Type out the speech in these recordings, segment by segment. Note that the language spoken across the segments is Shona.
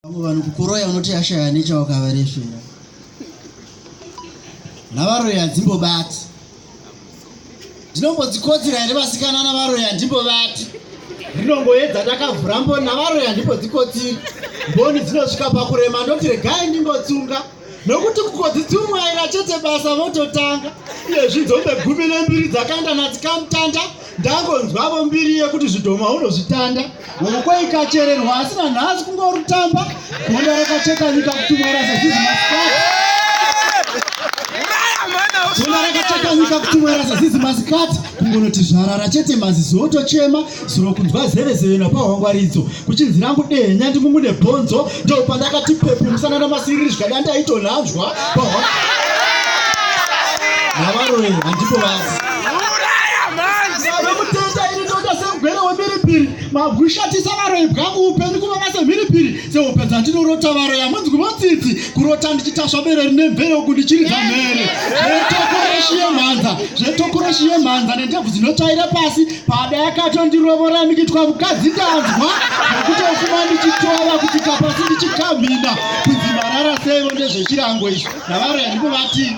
vamwe vanhu kukoroya unoti yashaya nechawakavarefera navaroyi hadzimbobati ndinombodzikodzera here vasikana navaroyi handimbobati rinongoedza ndakavhura mboni navaroyi handimbodzi kodziri mboni dzinosvika pakurema ndoti regai ndimbotsunga nokuti kukodzitsumwaira chete basa vototanga iye zvidzombe gumi nembiri dzakaenda nadzikamutanda ndangonzwavo mbiri yekuti zvidhoma unozvitanda ukweikacherenwa asi nanhasi kungorutamba gunda rakacheka nyika kutumwaira sezizimasikaa gunda rakacheka nyika kutumwaira sezizimasikat kungonoti zvarara chete mazizi otochema zuro kunzwa zevezeve napahwangwaridzo kuchinzi rangu dehenya ndimumune bhonzo ndopandakati pepu musana namasiriri zvikada ndaitonhanzwa pahwa navaroe handipo vazi vemutenda ini ndoda semugwere wemhiripiri magushatisa varoyi bwangu upenyu kuvava semhiripiri sehope dzandinorota varoyi hamunzi kuvotsitsi kurota ndichitasva bere rine mvere uku ndichiridza mhere zvetokoreshi yemhanza zvetokoreshi yemhanza nendebvu dzinotsvaira pasi Pada yakatondirovora ndikitwa mukadzi ndanzwa nekutofuma ndichitova kuti kapasi ndichikamhina kunzi marara seivo ndezvechirango izvi navaro yandikuvati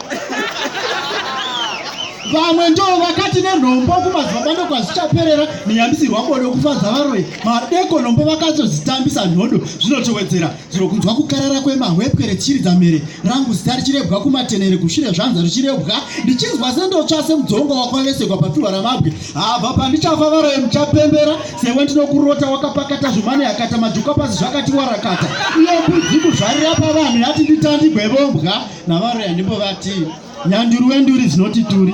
vamwe ndo vakati nenhombo kumadzibaba ndokwazvichaperera neyambisirwa bodo kufadza varoyi madeko nhombo vakazozitambisa nhodo zvinotowedzera Zvino kunzwa kukarara kwemahwepwe rechiri dzamhere rangu zita richirebwa kumatenere kushure zvanza richirebwa ndichinzwa sendotsva semudzongo wakwavesekwa papfihwa ramabwe habva pandichafa varoye muchapembera sewe ndinokurota wakapakata zvimane yakata majuka pasi zvakati warakata uye mbudzi kuzvarira pavanhu yati nditandi gwebombwa navaroya ndimbo vati nyanduri wenduri dzinoti turi